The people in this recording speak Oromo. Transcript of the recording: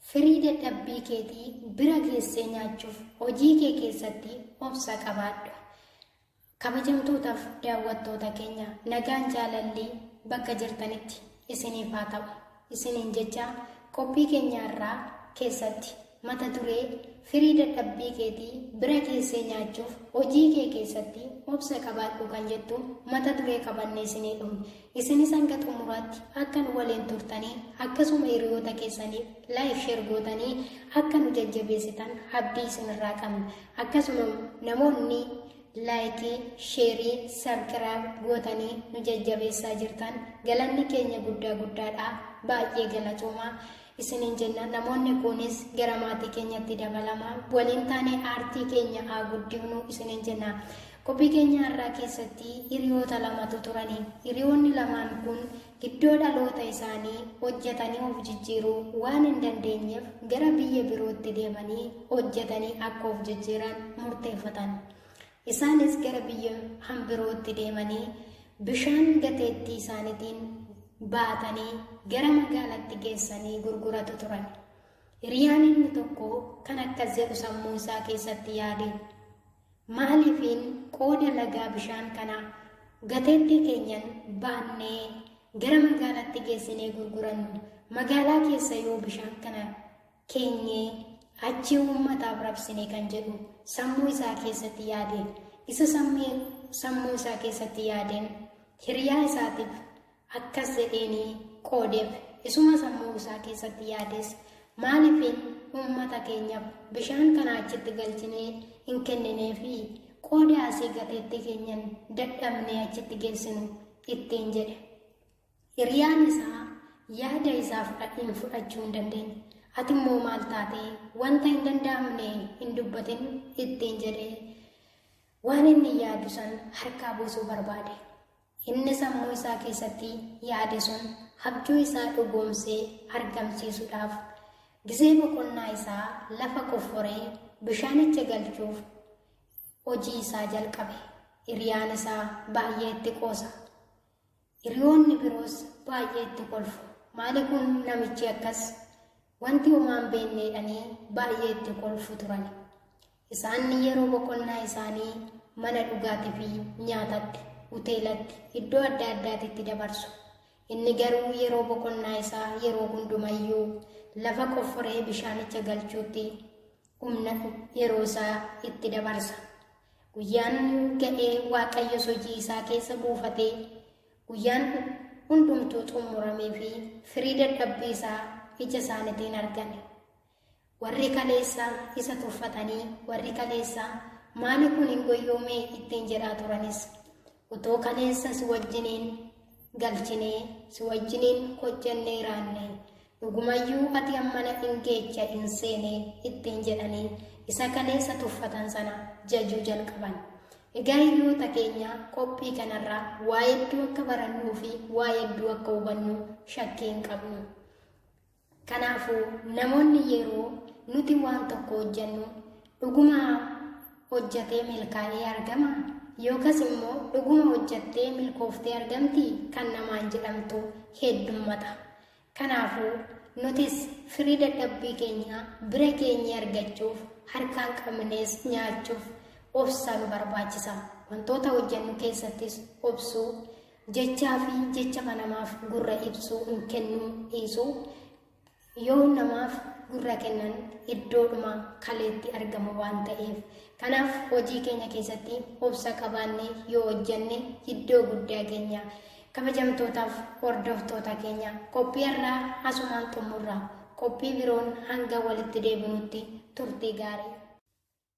Firii dadhabbii keetii bira geessee nyaachuuf hojii kee keessatti obsa qabaadhu. Kabajamtootaaf daawwattoota keenya nagaan jaalallii bakka jirtanitti isiniif haa ta'u. Isiniin jecha qophii keenya irraa keessatti Mata duree, Firii dadhabbii keetii bira keessee nyaachuuf hojii kee keessatti obsa qabaadhu kan jettu mata duree qabannee isinii dhufne. Isinis hanga xumuraatti akka nu waliin turtanii akkasuma hiriyoota keessaniif like share gootanii akka nu jajjabeessitan abdii isinirraa qabna. Akkasuma namoonni laayikii, sheerii, sabkiraab gootanii nu jajjabeessaa jirtan galanni keenya guddaa guddaadha. Baay'ee galatoomaa. isiniin jenna namoonni kunis gara maatii keenyatti dabalama waliin taane aartii keenya haa guddifnu isiniin jenna qophii keenya har'aa keessatti hiriyoota lamatu turani hiriyoonni lamaan kun iddoo dhaloota isaanii hojjetanii of jijjiiruu waan hin dandeenyeef gara biyya birootti deemanii hojjetanii akka of jijjiiran murteeffatan Isaanis gara biyya kan birootti deemanii bishaan gateettii isaaniitiin baatanii gara magaalatti geessanii gurguratu turan. Hiriyaan inni tokko kan akkas jedhu sammuu isaa keessatti yaade. Maaliifiin qooda lagaa bishaan kana gateettii keenyan baannee gara magaalatti geessinee gurgurannu magaalaa keessa yoo bishaan kana keenye achii uummataaf rabsine kan jedhu sammuu isaa keessatti yaade isa sammuu isaa keessatti yaadeen hiriyaa isaatiif akkas jedheeni qoodeef isuma sammuu isaa keessatti yaades maaliifin uummata keenyaaf bishaan kana achitti galchinee hin kenninee fi qooda asii gateetti keenyan dadhabnee achitti geessinu ittiin jedhe Hiriyaan isaa yaada isaa fudhadheen fudhachuu hin dandeenye. Ati immoo maal taate wanta hin danda'amne hin dubbatin ittiin jedhee waan inni yaadu san harkaa buusuu barbaade. Inni sammuu isaa keessatti yaade sun abjuu isaa dhugoomsee argamsiisuudhaaf gizee boqonnaa isaa lafa qofforee bishaanicha galchuuf hojii isaa jalqabe. Hiriyaan isaa baay'ee itti qoosa. Hiriyoonni biroos baay'ee itti kolfu. Maali kun namichi akkas? Wanti homaan beekneedhanii baay'ee itti kolfu turan. Isaan yeroo boqonnaa isaanii mana dhugaatii fi nyaatatti, hoteelatti, iddoo adda addaatitti dabarsu. Inni garuu yeroo boqonnaa isaa yeroo hundumayyuu lafa qofforee bishaanicha galchuutti humna yeroo isaa itti dabarsa. Guyyaan ga'ee Waaqayyos hojii isaa keessa buufatee guyyaan hundumtuu xumuramee fi firii dadhabbii isaa ija isaaniitiin argame. Warri kaleessa isa tuffatanii warri kaleessa maali kun hin goyyoomee ittiin jedhaa turanis utuu kaleessa si wajjiniin galchinee si wajjiniin hojjennee raanne Dhugumayyuu ati hammana in geecha in seene ittiin jedhanii isa kaleessa tuffatan sana jajuu jalqaban. Egaa hiriyoota keenya qophii kanarraa waa hedduu akka barannuu fi waa hedduu akka hubannu shakkii hin qabnu. Kanaafuu namoonni yeroo nuti waan tokko hojjennu dhuguma hojjetee milkaa'ee argama yookas immoo dhuguma hojjettee milkooftee argamti kan namaan jedhamtu heddummata. Kanaafuu, nutis firii dadhabbii keenyaa bira geenyee argachuuf, harkaan qabnees nyaachuuf obsa nu barbaachisa. Wantoota hojjennu keessattis obsuu, jechaafi jecha namaaf gurra ibsuu hin kennuu dhiisuu, yoo namaaf gurra kennan iddoodhuma kaleetti argamu waan ta'eef. Kanaaf, hojii keenya keessatti obsa qabaannee yoo hojjenne iddoo guddaa geenya. Kabajamtootaaf hordoftoota keenya qophii har'aa asumaan xumurra. Qophii biroon hanga walitti deebinutti turtii gaarii.